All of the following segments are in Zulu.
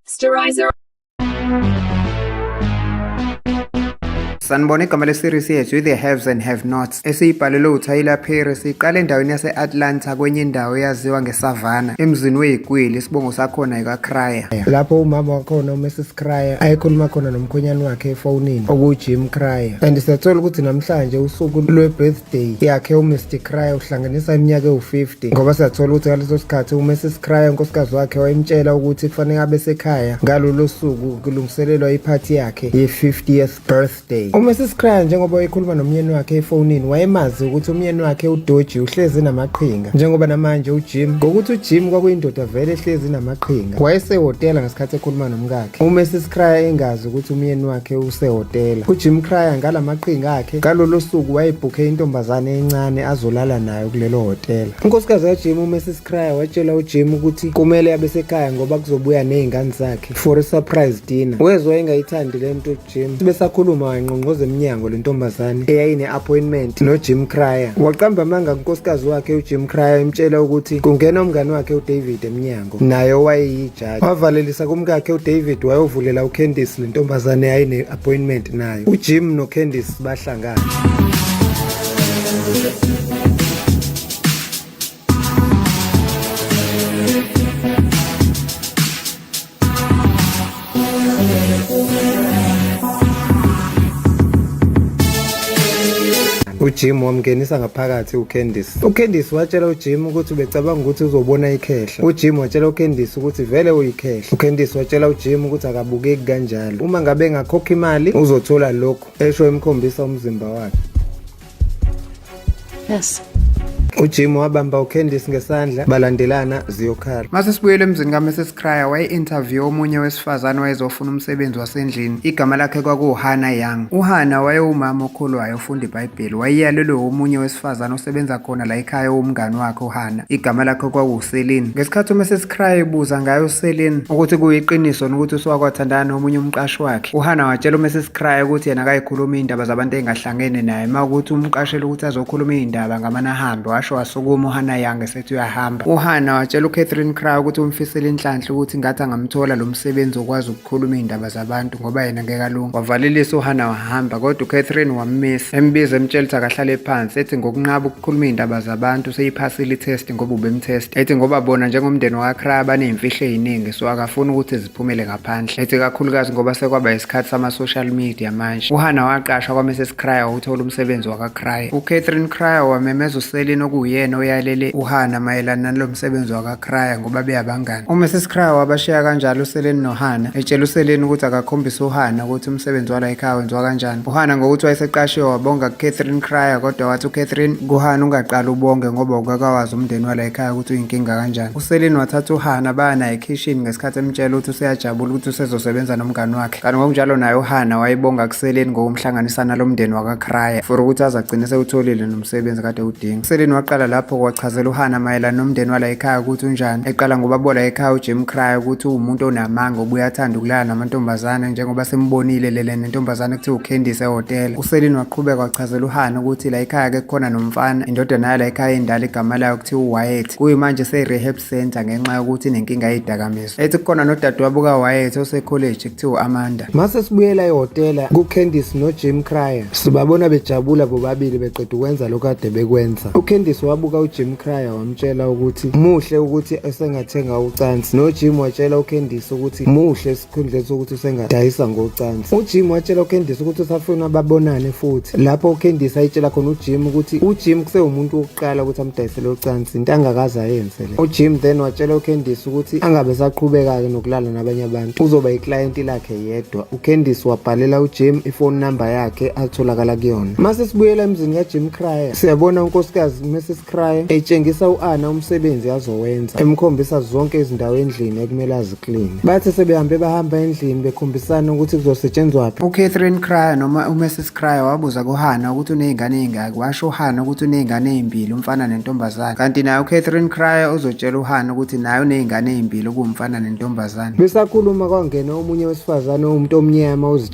Sterilizer. Sanibona igama le-series yethu i-The Haves and Have Nots esiyibhalelwe uTyler Perry siqale endaweni yase-Atlanta kwenye indawo eyaziwa ngeSavannah emzini weyikwili isibongo sakhona yikaCryer lapho umama wakhona uMrs Cryer ayekhuluma khona nomkhwenyana wakhe efonini okuwujim Cryer and siyathola ukuthi namhlanje usuku lwe-birthday yakhe umr Cryer uhlanganisa iminyaka ewu-50 ngoba siyathola ukuthi ngaleso sikhathi umrs Cryer unkosikazi wakhe wayemtshela ukuthi kufanele abe sekhaya ngalolo suku kulungiselelwa iphathi yakhe ye-50th birthday day uma sesikraya njengoba wayekhuluma nomyeni wakhe efonini wayemazi ukuthi umyeni wakhe udoji uhlezi namaqhinga njengoba namanje ujim ngokuthi ujim kwakuyindoda vele ehlezi namaqhinga wayesehhotela ngesikhathi ekhuluma nomkakhe uma sesikraya engazi ukuthi umyeni wakhe usehhotela ujim kraya ngala maqhinga akhe ngalolo suku wayebhukhe intombazane encane azolala nayo kulelo hhotela unkosikazi kajim uma sesikraya watshela ujim ukuthi kumele abe sekhaya ngoba kuzobuya nezingane zakhe for a surprise dinner wezwa engayithandi le nto Jim besakhuluma wayingqongqoza emnyango le ntombazane eyayine-appointment nojim cryer waqamba amanga kunkosikazi wakhe ujim cryer emtshela ukuthi kungena umngane wakhe udavid emnyango naye owayeyijaji wavalelisa kumkakhe udavid wayovulela ucandice le ntombazane eyayine-appointment nayo ujim nocandice bahlangana ujim wamngenisa ngaphakathi ucandice ucandice watshela ujim ukuthi ubecabanga ukuthi uzobona ikhehla ujim watshela ucandice ukuthi vele uyikhehla ucandice watshela ujim ukuthi akabukeki kanjalo uma ngabe engakhokha imali uzothola lokhu esho emkhombisa umzimba wakhe Yes. Ujim wabamba uCandice ngesandla balandelana ziyokhala. Mase sibuyele emzini kaMrs Cryer waye-interview omunye wesifazane wayezofuna umsebenzi wasendlini. Igama lakhe kwakuwuHana Young. UHana wayewumama okholwayo ofunda iBhayibheli. Wayeyalelwe omunye wesifazane osebenza khona la ekhaya owumngani wakhe uHana. Igama lakhe kwakuwuSelin. Ngesikhathi uMrs Cryer ebuza ngayo uSelin ukuthi kuyiqiniso nokuthi usuwakwathandana nomunye umqashi wakhe, uHana watshela uMrs Cryer ukuthi yena akayikhulumi indaba zabantu engahlali angene naye uma ukuthi umqashela ukuthi azokhuluma iy'ndaba ngamane ahambe washo wasukuma uhana yange sethi uyahamba uhana watshela ucatherine cry ukuthi umfisele inhlanhla ukuthi ngathi angamthola lo msebenzi okwazi ukukhuluma iy'ndaba zabantu ngoba yena ngeke alunga wavalelisa uhana wahamba kodwa ucatherine wammisa embiza emtshela ukuthi akahlale phansi ethi ngokunqaba ukukhuluma iy'ndaba zabantu seyiphasile itest ngoba ubemtest ethi ngoba bona njengomndeni wakacry baney'mfihlo ey'ningi so akafuni ukuthi phumele ngaphandle ethi kakhulukazi ngoba sekwaba isikhathi sama-social media manje uhana waqashwa kwamrs cryer wawuthola umsebenzi wakacrier ucatherine cryer wamemeza uselin okuwuyena oyalele uhana mayelana nalo msebenzi wakacrier ngoba beyabangani umrs cryer wabashiya kanjalo uselin nohana etshela uselin ukuthi akakhombise uhana ukuthi umsebenzi wala ekhaya wenziwa kanjani uhana ngokuthi wayeseqashiwe wabonga kucatherine cryer kodwa wathi ucatherine kuhana ungaqali ubonge ngoba ukakawazi umndeni wala ekhaya ukuthi uyinkinga kanjani Selin wathatha uHana baya naye ekhishini ngesikhathi emtshela ukuthi useyajabula ukuthi usezosebenza nomngani wakhe kanti ngokunjalo naye uHana wayebonga kuSelin ngokumhlanganisana lo mndeni wakaKraya for ukuthi aze agcine sewutholile nomsebenzi kade udinga Selin waqala lapho kwachazela uHana mayelana nomndeni wala ekhaya ukuthi unjani eqala ngobabola ekhaya uJim Kraya ukuthi uwumuntu onamanga obuye athanda ukulala namantombazane njengoba simbonile lele nentombazane kuthiwa uCandice ehhotela uSelin waqhubeka wachazela uHana ukuthi la ekhaya ke kukhona nomfana indodana yala ekhaya endala igama layo Kuthiwa uWyatt kuyimanje use-rehab center ngenxa yokuthi inenkinga yezidakamizwa. Ethi kukhona nodadewabo kaWyatt osekholeji kuthiwa u-Amanda. Mase sibuyela ehhotela kuCandice noJim Cryer. Sibabona bejabula bobabili beqeda ukwenza lokho kade bekwenza. UCandice wabuka uJim Cryer wamtshela ukuthi muhle ukuthi esengathenga ucansi. NoJim watshela uCandice ukuthi muhle uKhendlesi ukuthi usengadayisa ngocansi ujim watshela uKhendlesi ukuthi usafuna babonane futhi lapho uKhendlesi ayitshela khona ujim ukuthi ujim kusewumuntu wokuqala ukuthi amdayisele ucansi into angakaze ayenze le ujim then watshela uKhendlesi ukuthi angabe saqhubeka-ke nokulala nabanye abantu uzoba iklayenti lakhe yedwa uKhendlesi wabhalela ujim ifoni number yakhe atholakala kuyona mase sibuyela emzini kajim cryer siyabona unkosikazi mese Cry etshengisa u-Ana umsebenzi azowenza emkhombisa zonke izindawo endlini ekumele azikline bathe sebehambe bahamba endlini bekhombisana ukuthi kuzosetshenzwaphi uCatherine Cryer noma uMrs Cryer wabuza kuHana ukuthi unezingane ezingaki washo uHana ukuthi unezingane ezimbili umfana nentombazane kanti naye uCatherine Cryer uzotshela uHana ukuthi naye unezingane ezimbili kuwumfana nentombazane besakhuluma kwangena omunye wesifazane owumuntu omnyama uzithe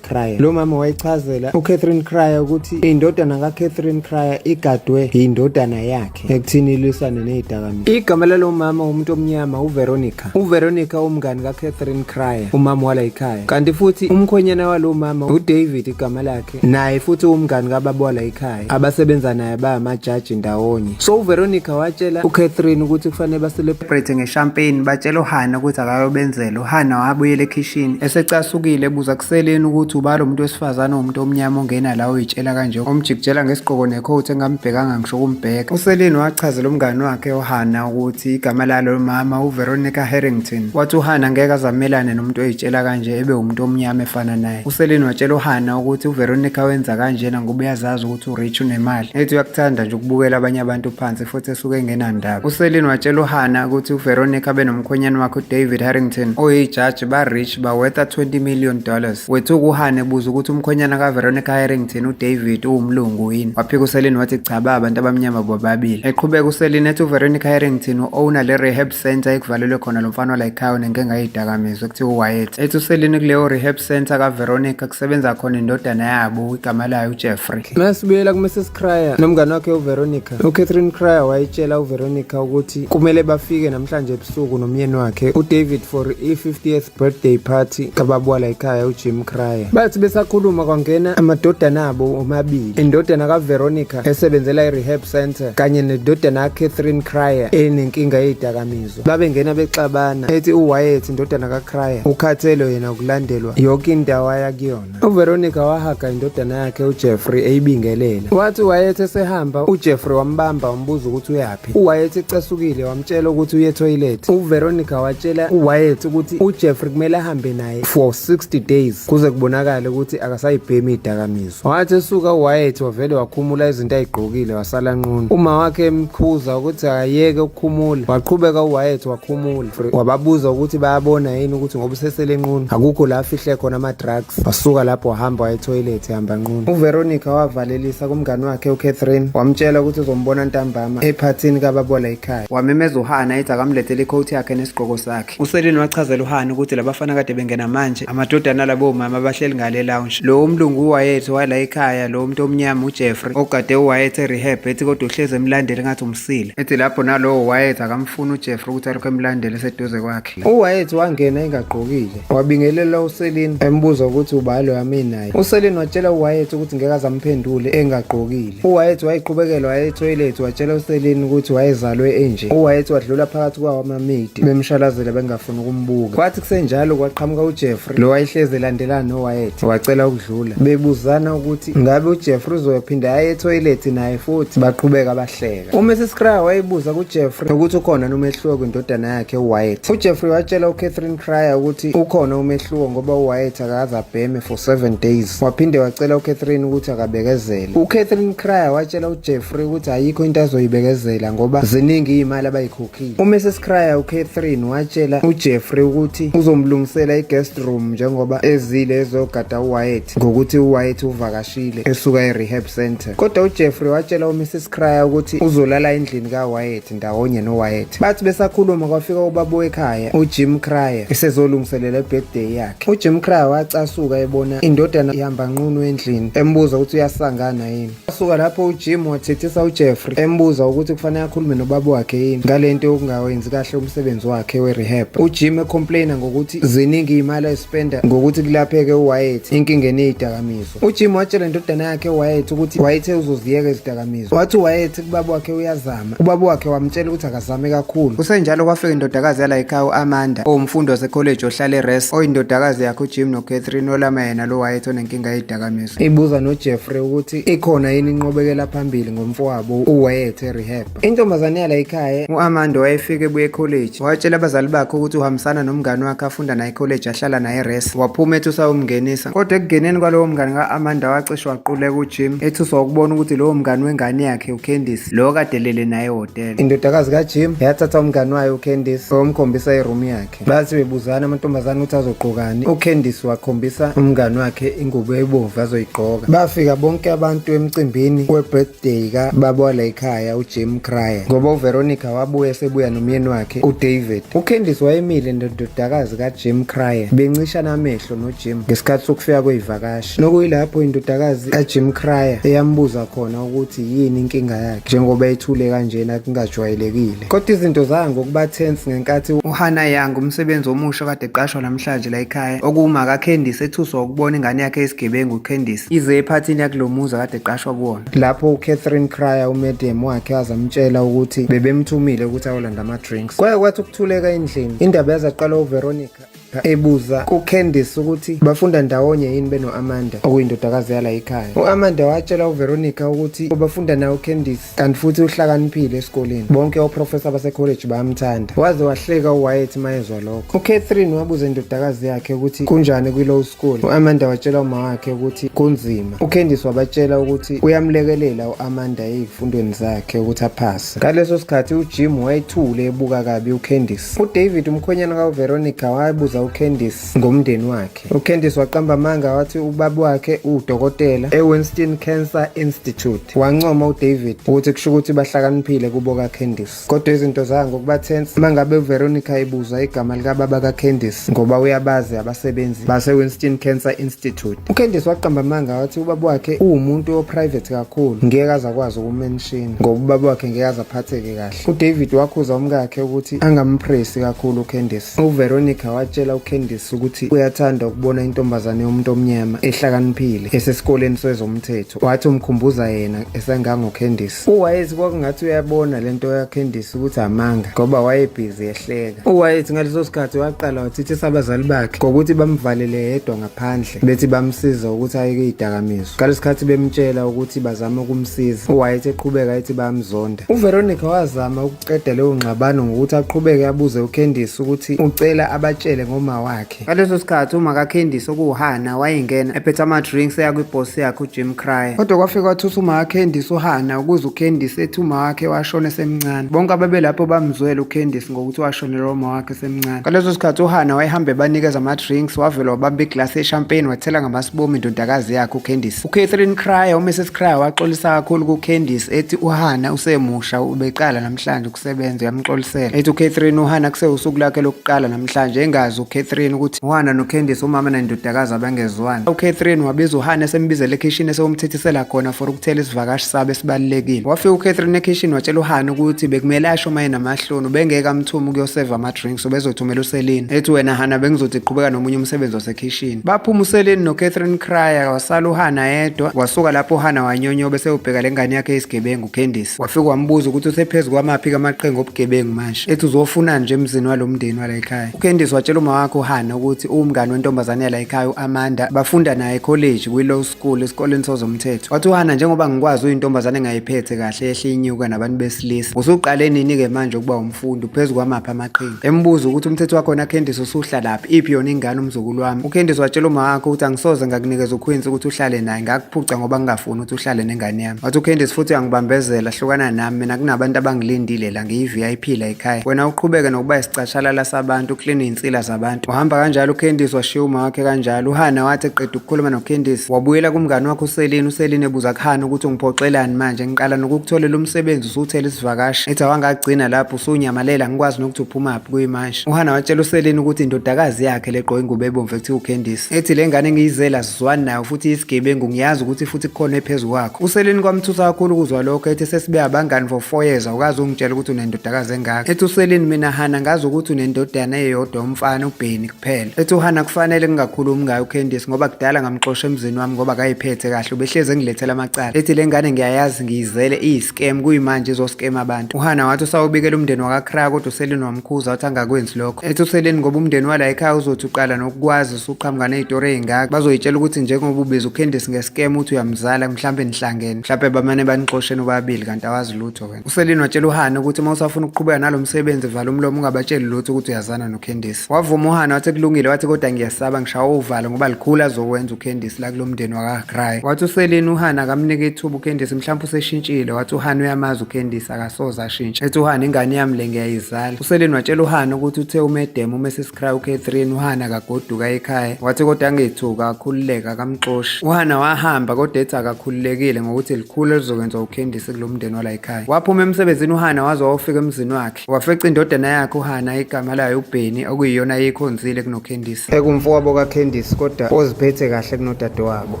Cryer. Lo mama wayichazela uCatherine Cryer ukuthi indodana kaCatherine Cryer igadwe yindodana yakhe ekuthini ilwisane nezidakamizwa. Igama lalo mama umuntu omnyama uVeronica. UVeronica umngani kaCatherine Cryer, umama wala ikhaya. Kanti futhi umkhonyana walo mama uDavid igama lakhe, naye futhi umngani kababa wala ikhaya. abasebenza naye bayamajaji ndawonye so uveronica watshela ucatherine ukuthi kufanele baselebrate ngeshampeni batshela uhana ukuthi akayobenzela uhana wabuyela ekhishini esecasukile ebuza kuseleni ukuthi uba lo muntu wesifazane umuntu omnyama ongena la uyitshela kanje omjikijela ngesigqoko nekhowuthi engambhekanga ngisho ukumbheka useleni wachazela umngani wakhe uhana ukuthi igama lalo mama uveronica harrington wathi uhana ngeke azamelane nomuntu oyitshela kanje ebe umuntu omnyama efana naye useleni watshela uhana ukuthi uveronica wenza kanjena ngoba uyazazi ukuthi urich unemali ethi uyakuthanda nje ukubukela abanye abantu phansi futhi esuke engenandaba useleni watshela uhana ukuthi uveronica benomkhwenyana wakhe udavid harrington oyijaji ba-rich bawetha 20 million dollars wethuka uhana ebuza ukuthi umkhwenyana kaveronica harrington udavid uwumlungu yini waphika useleni wathi cha ba abantu abamnyama bobabili eqhubeka useleni ethi uveronica harrington u-owner le-rehab center ekuvalelwe khona lo mfana walayikhayo nengike ngayidakamizwa kuthiwa uwayethe ethi uselini kuleyo rehab center kaveronica kusebenza khona indodana yabo igama layo ujeffrey masibuyela kumrs cryer nomngane wakhe uveronica ucatherine cryer wayitshela uveronica ukuthi kumele bafike namhlanje ebusuku nomyeni wakhe udavid for i-50th birthday party kababa la ekhaya ujim cryer bathi besakhuluma kwangena amadodana abo omabili indodana kaveronica esebenzela i-rehab center kanye nedodana kacatherine cryer enenkinga yeyidakamizwa babengena bexabana ethi uwayeth indodana kacryer ukhathelo yena ukulandelwa yoke indawo ayakuyona uVeronica wahaga indodana yakhe uJeffrey eyibingelela wathi wayethe sehamba uJeffrey wambamba wambuza ukuthi uyaphi uWyatt ecasukile wamtshela ukuthi uye toilet uVeronica watshela uWyatt ukuthi uJeffrey kumele ahambe naye for 60 days kuze kubonakale ukuthi akasayibhemi idakamizwa wathi esuka uWyatt wavele wakhumula izinto ayigqokile wasala nqunu uma wakhe emkhuza ukuthi akayeke ukukhumula waqhubeka uWyatt wakhumula wababuza ukuthi bayabona yini ukuthi ngoba usesele nqunu akukho la afihle khona ama-drugs wasuka lapho wahamba wayethoyilethi hamba nqunu uveronica wavalelisa kumngani wakhe ucatherine wamtshela ukuthi uzombona ntambama ephathini kababola ikhaya wamemeza uhana ethi akamlethele ikhowuthi yakhe nesigqoko sakhe uselini wachazela uhana ukuthi labafana kade bengena manje amadodana labo mama abahleli ngale lounge lo umlungu uwayethi wala ekhaya lo muntu omnyama ujeffrey ogade uwayethi erehab ethi kodwa uhlezi emlandeli ngathi Sile. Ethi lapho nalowo Wyatt akamfuni uJeffrey ukuthi alokhu emlandela eseduze kwakhe. UWyatt wangena engagqokile. Wabingelela uSelin embuza ukuthi ubani lo yami naye. USelin watshela uWyatt ukuthi ngeke azamphendule engagqokile. UWyatt wayiqhubekela waya etoilet watshela uSelin ukuthi wayezalwe enje. UWyatt wadlula phakathi kwawo amamidi bemshalazela benga ngifuna ukumbuka kwathi kusenjalo kwaqhamuka ujeffrey lo wayehlezi elandelana nowayethe wacela ukudlula bebuzana ukuthi ngabe ujeffrey uzoyophinda aye ethoyilethi naye futhi baqhubeka bahleka umrs cryer wayebuza kujeffrey ukuthi ukhona nomehluko kwindodana yakhe uwayethe ujeffrey watshela ucatherine cryer ukuthi ukhona umehluko ngoba uwayethe akaze abheme for seven days waphinde wacela ucatherine ukuthi akabekezele ucatherine cryer watshela ujeffrey ukuthi ayikho into azoyibekezela ngoba ziningi iy'mali abayikhupha UMrs Cryer uCatherine watshela uJeffrey ukuthi uzomlungisela i-guest room njengoba ezile ezogada uWyatt ngokuthi uWyatt uvakashile esuka e-rehab center. Kodwa uJeffrey watshela uMrs Cryer ukuthi uzolala endlini kaWyatt ndawonye noWyatt. Bathi besakhuluma kwafika ubaba wekhaya uJim Cryer esezolungiselela i-birthday yakhe. UJim Cryer wacasuka ebona indodana ihamba nqunu endlini embuza ukuthi uyasangana yini. Wasuka lapho uJim wathethisa uJeffrey embuza ukuthi kufanele akhulume nobaba wakhe yini ngalento yokungawenzi kahle umsebenzi wakhe werehab. UJim ecomplaina ngokuthi ziningi imali ayispenda ngokuthi kulapheke uWyatt inkinga eniyidakamizwa. UJim watshela indodana yakhe uWyatt ukuthi wayethe uzoziyeka izidakamizwa. Wathi uWyatt kubaba wakhe uyazama. Ubaba wakhe wamtshela ukuthi akazame kakhulu. Kusenjalo kwafika indodakazi yala ekhaya uAmanda owumfundi wasecollege ohlale eRest oyindodakazi yakhe uJim noCatherine olama yena lo Wyatt onenkinga yezidakamizwa. ibuza nojeffrey ukuthi ikhona yini inqobekela phambili ngomfowabo uwayeth erehab intombazane yala ikhaya u-amanda wayefike ebuye ekholeji watshela abazali bakhe ukuthi uhambisana nomngane wakhe afunda naye ekholeji ahlala naye eres waphuma ethi usawumngenisa kodwa ekungeneni kwalowo mngane ka-amanda wacishe waquleka ujim ethuswa ukubona ukuthi lowo mngane wengane yakhe ucandice lowo kadelele naye ehhotela indodakazi kajim yathatha umngane wayo ucandice wayomkhombisa irumu yakhe Bathi bebuzana amantombazane ukuthi azogqokani. UCandice wakhombisa umngani wakhe ingubo ebomvu azoyigqoka. Bafika bonke abantu emcimbini we-birthday ka babwala ekhaya uJim Cryer ngoba uVeronica wabuye sebuya nomyeni wakhe uDavid. UCandice wayemile nendodakazi kaJim Cryer bencishana amehlo noJim ngesikhathi sokufika kweyivakashi. Nokuyilapho indodakazi kaJim Cryer eyambuza khona ukuthi yini inkinga yakhe njengoba ethule kanjena kungajwayelekile. Kodwa izinto zaya ngokuba tense ngenkathi uHana Young umsebenzi omusha kade eqashwa namhlanje la ekhaya okuwuma kaCandice ethuswa ukubona ingane yakhe isigebengu uCandice ize ephathini yakulomuzi kade eqashwa kuwona lapho uCatherine Cryer umedium wakhe azamtshela ukuthi bebemthumile ukuthi ayolanda ama drinks kwaye kwathi ukuthuleka endlini indaba yazaqala uVeronica ebuza kuCandice ukuthi bafunda ndawonye yini beno-Amanda okuyindodakazi yala yikhaya u-Amanda watshela uVeronica ukuthi ubafunda nawo uCandice kanti futhi uhlakaniphile esikoleni bonke oprofesa basekholeji bayamthanda waze wahleka uWyatt mayezwa lokho uCatherine wabuza indodakazi yakhe ukuthi kunjani kwi-low school u-Amanda watshela uma wakhe ukuthi kunzima uCandice wabatshela ukuthi uyamlekelela u-Amanda ezifundweni zakhe ukuthi aphase ngaleso sikhathi uJim wayethule ebuka kabi uCandice udavid umkhwenyana kaveronica wayebuza ucandice ngomndeni wakhe ucandice waqamba amanga wathi ubaba wakhe uwudokotela ewinston cancer institute wancoma udavid ukuthi kusho ukuthi bahlakaniphile kubo kacandice kodwa izinto zaya ngokuba tense uma ngabe uveronica ebuza igama likababa kacandice ngoba uyabazi abasebenzi basewinston cancer institute ucandice waqamba amanga wathi ubaba wakhe uwumuntu oprivate kakhulu ngeke aze akwazi ukumenshina ngoba ubaba wakhe ngeke aze aphatheke kahle uDavid wakhuza umkakhe ukuthi angampresi kakhulu uCandice. UVeronica watshela uCandice ukuthi uyathanda ukubona intombazane yomuntu omnyama ehlakaniphile esesikoleni sezomthetho. Wathi umkhumbuza yena esangangoCandice. UWayeth kwakungathi uyabona lento kaCandice ukuthi amanga ngoba wayebhizi ehleka. UWayeth ngaleso sikhathi waqala wathithisa abazali bakhe ngokuthi bamvalele yedwa phandle bethi bamsiza ukuthi ayeke idakamizwa kale sikhathi bemtshela ukuthi bazama ukumsiza uwayeth eqhubeka ethi bayamzonda uveronica wazama ukuqeda leyo ngxabano ngokuthi aqhubeke abuze ucandice ukuthi ucela abatshele ngoma wakhe ngaleso sikhathi uma kacandice okuwuhana wayengena ephethe ama-drinks eya kwibhosi yakhe ujim cryer kodwa kwafika wathutha uma kacandice uhana ukuze ucandice ethi uma wakhe washona esemncane bonke ababelapho bamzwele ucandice ngokuthi washonelwa uma wakhe esemncane ngaleso sikhathi uhana wayehamba ebanikeza ama-drinks wavele wabamba iglasi yeshampeni wathela ngamasibomu indodakazi yakhe ucandice ucatherine cryer umrs cryer waxolisa kakhulu kucandice ethi uhana usemusha ubeqala namhlanje ukusebenza uyamxolisela ethi ucatherine uhana kusewusuku lakhe lokuqala namhlanje engazi ucatherine ukuthi uhana nocandice umama nendodakazi abangezwani ucatherine wabiza uhana esembizela ekhishini esewumthethisela khona for ukuthela isivakashi sabo esibalulekile wafika ucatherine ekhishini watshela uhana ukuthi bekumele asho mayena Hlunu bengeke amthume ukuyoseva ama-drinks ubezothumela uselini ethi wena hana bengizothi qhubeka nomunye umsebenzi wasekhishini baphuma uselini nocatherine cryer wasala uhana yedwa wasuka lapho uhana wanyonyobe sewubheka le ngane yakhe yesigebengu ucandice wafika wambuza ukuthi usephezu kwamaphi kamaqhinga obugebengu manje ethi uzofunani nje emzini walo mndeni wala ekhaya ucandice watshela uma wakhe uhana ukuthi uwumngane wentombazane yala ekhaya u-amanda bafunda naye ekholeji kwi-law school esikoleni sozomthetho wathi uhana njengoba ngikwazi uyintombazane engayiphethe kahle yehle inyuka nabantu besilisa usuqale nini-ke manje ukuba umfundi uphezu kwamaphi amaqhinga embuza ukuthi umthetho wakhona kendisi usuhla laphi iphi yona ingane umzukulu wami ukendisi watshela uma wakho ukuthi angisoze ngakunikeza ukhwinsi ukuthi uhlale naye ngakuphuca ngoba ngingafuni ukuthi uhlale nengane yami wathi ukendisi futhi uyangibambezela hlukana nami mina kunabantu abangilindile la ngiyi-vip la Kai, wena uqhubeke nokuba isicashalala sabantu ukline iy'nsila zabantu uhamba kanjalo ucandice washiya uma wakhe kanjalo uhana wathi eqeda ukukhuluma nocandice wabuyela kumngani wakhe uselini uselini ebuza kuhana ukuthi ungiphoxelani manje ngiqala nokukutholela umsebenzi usuthela isivakashi ethi awangagcina lapho usunyamalela ngikwazi nokuthi uphumaphi kuyimanje uhana watshela uselini ukuthi indodakazi yakhe legqoke ingubo ebomvu ekuthiwa ucandice ethi le ngane ngiyizela Zwan nayo futhi isigebengu ngiyazi ukuthi futhi kukhona ephezu kwakho. Useleni kwamthusa kakhulu ukuzwa lokho ethi sesibe abangani for 4 years awukazi ungitshela ukuthi unendodakazi engaka. Ethi useleni mina Hana ngazi ukuthi unendodana eyodwa umfana uBheni kuphela. Ethi uHana kufanele ngingakhulumi ngayo uCandice ngoba kudala ngamxosha emzini wami ngoba kayiphethe kahle ubehleze ngilethela amacala. Ethi lengane ngiyayazi ngiyizele iyis scam kuyimanje izoscam abantu uhana wathi usawubikela umndeni wakakra kodwa uselini wamkhuza wathi angakwenzi lokho ethi uselini ngoba umndeni wala ekhaya uzothi uqala nokukwazi usuqhamuka nezitori ey'ngaka bazoyitshela ukuthi njengoba ubiza ucandice ngescam uthi uyamzala mhlawumbe nihlangene mhlawumbe bamane banixosheni ubabili kanti awazi lutho wena uselini watshela uhana ukuthi uma usafuna ukuqhubeka nalo msebenzi vala umlomo ungabatsheli lutho ukuthi uyazana nocandice wavuma uhana wathi kulungile wathi kodwa ngiyasaba ngishawa uvalo ngoba likhulu azokwenza uCandice la kulomndeni wakaGray wathi uSeleni uHana akamnike ithuba uCandice mhlawumbe useshintshile wathi uHana uyamazi uCandice akasoze ashintshe ethi uHana ingane yami le ngiyayizala uSeleni watshela uHana ukuthi uthe umedem uMrs Cry uCatherine uHana akagoduka ekhaya wathi kodwa angithuka akhululeka akamxoshi uHana wahamba kodwa ethi akakhululekile ngokuthi likhulu elizokwenza uCandice kulomndeni wala ekhaya waphuma emsebenzini uHana waze wawufika emzini wakhe Wafeca indodana yakhe uHana igama layo uBheni okuyiyona eyikhonzile kunoKhendisi. Ekumfowabo kaKhendisi kodwa oziphethe kahle kunodadewabo.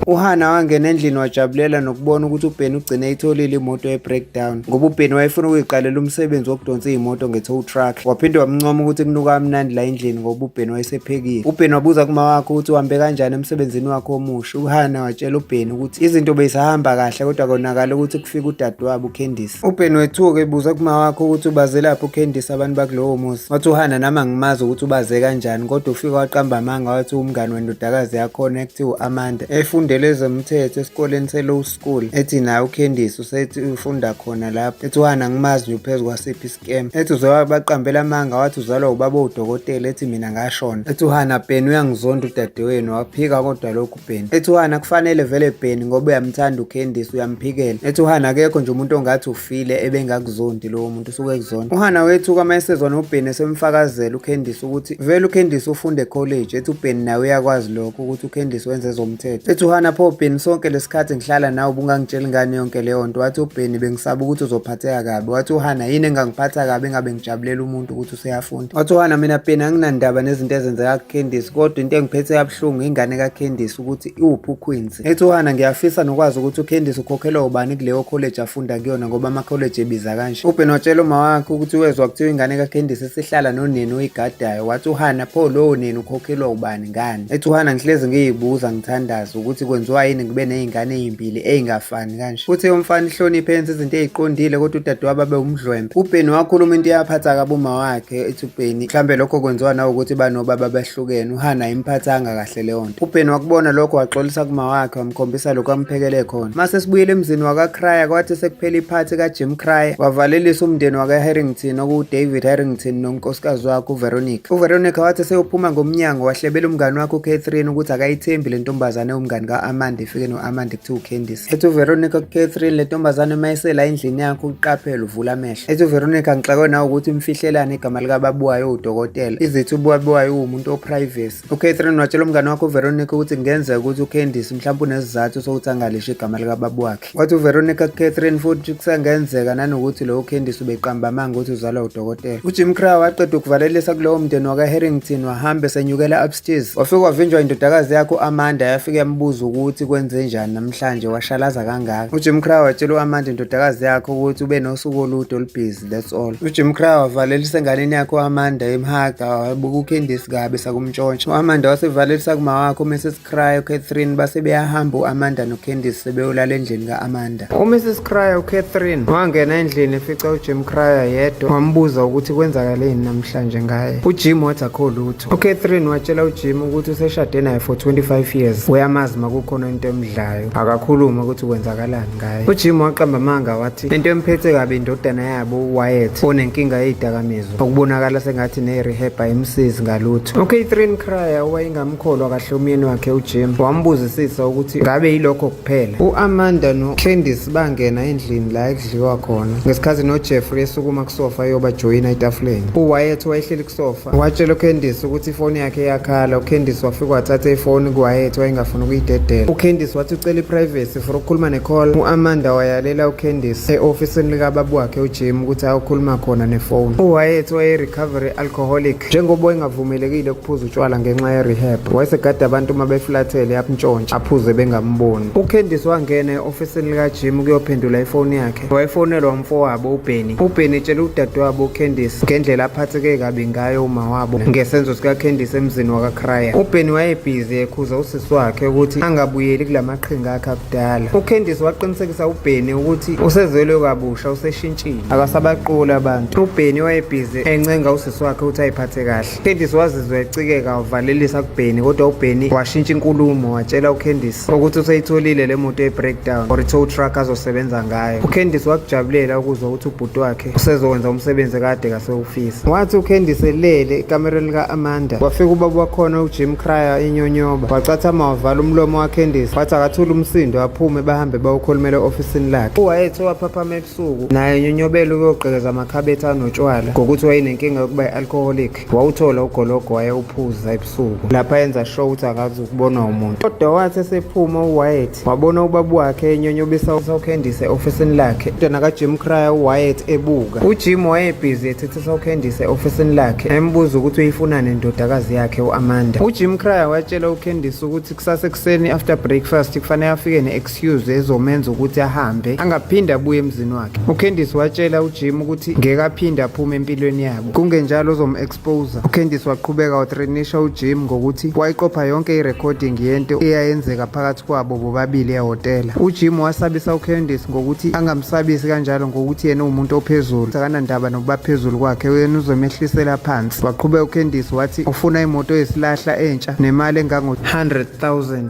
UHana wangena endlini wajabulela nokubona ukuthi uBheni ugcine eyitholile imoto ye-breakdown ngoba uBheni wayefuna ukuyiqalela umsebenzi wokudonsa iy'moto nge-tow truck. Waphinde wamncoma ukuthi kunuka amnandi la endlini ngoba uBheni wayesephekile. UBheni wabuza kuma wakhe ukuthi uhambe kanjani emsebenzini wakhe omusha. UHana watshela uBheni ukuthi izinto beyisahamba kahle kodwa konakala ukuthi kufika udadewabo uKhendisi. UBen wethuka ebuza kuma wakho ukuthi ubazelaphi uCandice abantu bakulowo muzi. Wathi uhana nami angimazi ukuthi ubaze kanjani kodwa ufike waqamba amanga wathi umngani wendodakazi yakhona ekuthiwa u-Amanda efundele ezomthetho esikoleni se-low school ethi naye uCandice usethi ufunda khona lapho ethi uhana ngimazi nje uphezu kwasiphi iscam ethi uze wabaqambela amanga wathi uzalwa ubaba udokotela ethi mina ngashona ethi uhana Ben uyangizonda udadewenu waphika kodwa lokhu Ben ethi uhana kufanele vele Ben ngoba uyamthanda uCandice uyamphikela ethi uhana akekho nje umuntu ongathi ufile ebengakuzondi lowo muntu usuke ekuzonda uhana wethuka uma esezwa noBen esemfakazela uCandice ukuthi vele uCandice ufunde college ethi uBen nawe uyakwazi lokho ukuthi uCandice wenze ezomthetho ethi uhana pho Ben sonke lesikhathi ngihlala nawe ubungangitsheli ngani yonke leyo nto wathi uBen bengisaba ukuthi uzophatheka kabi wathi uhana yini engangiphatha kabi engabe ngijabulela umuntu ukuthi useyafunda wathiwana mina peni anginandaba nezinto ezenzeka kucandice kodwa into engiphethe yabuhlungu ingane kacandice ukuthi iwuphi uqueens ethiwana ngiyafisa nokwazi ukuthi ucandice ukhokhelwa ubani kuleyo college afunda kuyona ngoba amakholeji ebiza kanje uben watshela uma wakhe ukuthi wezwa kuthiwa ingane kacandice isihlala noneni oyigadayo wathi uhana pho lowo neni ukhokhelwa ubani ngani ethiwana ngihlezi ngiyibuza ngithandaza ukuthi kwenziwa yini ngibe ney'ngane ey'mbili ey'ngafani kanje futhi yomfana ihloniphe yenza izinto eziqondile kodwa udadewabo abe umdlwembe ubheni wakhuluma into eyaphatha kabi uma wakhe ethi ubheni mhlawumbe lokho kwenziwa nawukuthi banobaba abahlukene uhana imphathanga kahle leyo nto ubheni wakubona lokho waxolisa kuma wakhe wamkhombisa lokho amphekele khona mase sibuyele emzini wakakraya kwathi sekuphela iphathi kajim kraya wavalelisa umndeni wakaharrington okuwudavid harrington nonkosikazi wakhe uveronica uveronica wathi seyophuma ngomnyango wahlebela umngani wakhe ucatherine ukuthi akayithembi le ntombazane umngani ka-amanda efike no-amanda to Candice ethi uVeronica kuCatherine le ntombazane uma esela endlini yakho uqaphele uvula amehlo ethi uVeronica ngixakwe nawe ukuthi umfihlelane igama likababuwayo udokotela izithi ubuwabuwayo uwumuntu oprivacy uCatherine watshela umngane wakho uVeronica ukuthi kungenzeka ukuthi uCandice mhlawumbe unesizathu sokuthi angalisho igama likababu wakhe wathi uVeronica kuCatherine futhi kusengenzeka nanokuthi lowo Candice ubeqamba amanga ukuthi uzalwa udokotela uJim Crow waqeda ukuvalelisa kulowo mndeni wakaHarrington wahambe senyukela Jeez, wafike wavinjwa indodakazi yakho u-Amanda yafike yambuza ukuthi kwenze njani namhlanje washalaza kangaka. UJim Crow watshela u-Amanda indodakazi yakho ukuthi ube nosuku olude olubhizi that's all. UJim Crow wavalelisa enganeni yakho u-Amanda emhaga wabuka uCandice kabi sakumntshontsha. U-Amanda wasevalelisa kumawakho uMrs Crow uCatherine base beyahamba u-Amanda noCandice sebeyolala endlini ka-Amanda. UMrs Cryer uCatherine wangena endlini efica uJim Cryer yedwa wambuza ukuthi kwenzakaleni namhlanje ngaye. UJim wathi akho lutho. UCatherine watshela uJim ukuthi useshade naye for 25 years. Uyamazi makukhona into emdlayo. Akakhuluma ukuthi kwenzakalani ngaye. UJim waqamba amanga wathi into emphethe kabi indodana yabo uWyatt onenkinga yezidakamizwa okubonakala sengathi ne-rehab ayimsizi ngalutho. UCatherine Cryer owayengamkholwa kahle umyeni wakhe uJim wambuzisisa ukuthi ngabe yilokho kuphela u-amanda nocandice bangena endlini la ekudliwa khona ngesikhathi nojeffrey esukuma kusofa eyobajoyina etafuleni uwayeth wayehleli kusofa watshela ucandice ukuthi ifoni yakhe yakhala ucandice wafika wathatha ifoni kuwayeth wayengafuni ukuyidedela ucandice wathi ucela iprivacy for ukukhuluma necall u-amanda wayalela ucandice e-ofisini likababa wakhe ujim ukuthi ayokhuluma khona nefoni uwayeth wayerecovery alcoholic njengoba wayengavumelekile ukuphuza utshwala ngenxa ye-rehab wayesegada abantu uma befulathele akuntshontshe aphuze bengamboni ucandice wangena e-ofisini likajim ukuyophendula ifoni yakhe wayefonelwa umfowabo ubheni ubheni etshela udadewabo ucandice ngendlela aphatheke kabi ngayo uma wabo ngesenzo sikacandice emzini wakakraya ubheni wayebhizi ekhuza usisi wakhe ukuthi angabuyeli kula maqhinga akhe akudala ucandice waqinisekisa ubheni ukuthi usezelwe kabusha useshintshile akasabaquli abantu ubheni wayebhizi encenga usisi wakhe uthi ayiphathe kahle candice wazizwa ecikeka wavalelisa kubheni kodwa ubheni washintsha inkulumo watshela ucandice ukuthi useyitholile le moto ye-breakdown or i-tow truck azosebenza ngayo ucandice wakujabulela ukuzwa ukuthi ubhuti wakhe usezokwenza umsebenzi kade kasewufisa wathi ucandice elele ekamereni lika-amanda wafika ubaba wakhona ujim cryer inyonyoba wacathama wavala umlomo wacandice wathi akathule umsindo aphume bahambe bawukhulumela e-ofisini lakhe uwayethe waphaphama usuku naye nyonyobela ukuyogqekeza amakhabethe anotshwala ngokuthi wayenenkinga yokuba i-alcoholic wawuthola ugologo wayewuphuza ebusuku lapha enza sho ukuthi akazi ukubonwa umuntu kodwa wathi esephuma uwayet wabona ubaba wakhe enyonyobisa usawukhendise e-ofisini lakhe indana kajim cryer uwayet ebuka ujim wayebhizi ethethisa ukhendise e-ofisini lakhe embuza ukuthi uyifunani indodakazi yakhe u-amanda ujim cryer watshela ukhendise ukuthi kusasa ekuseni after breakfast kufanele afike ne excuse ezomenza ukuthi ahambe angaphinde abuye emzini wakhe ucandice watshela ujim ukuthi ngeke aphinde aphume empilweni yabo kungenjalo ozom-exposa ucandice waqhubeka wathrenisha ujim ngokuthi wayiqopha yonke irecording yento eyayenzeka phakathi kwabo bobabili ehhotela ujim wasabisa ucandice ngokuthi angamsabisi kanjalo ngokuthi yena uwumuntu ophezulu sakanandaba nokuba phezulu kwakhe uyena uzomehlisela phansi waqhubeka ucandice wathi ufuna imoto yesilahla entsha nemali engango-100 000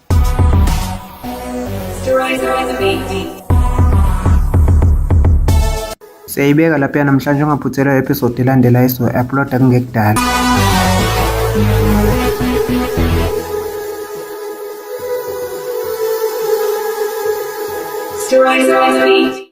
Siyayibeka lapha namhlanje ungaphuthelwa episode elandela iso upload kungekudala. Stories on the beat.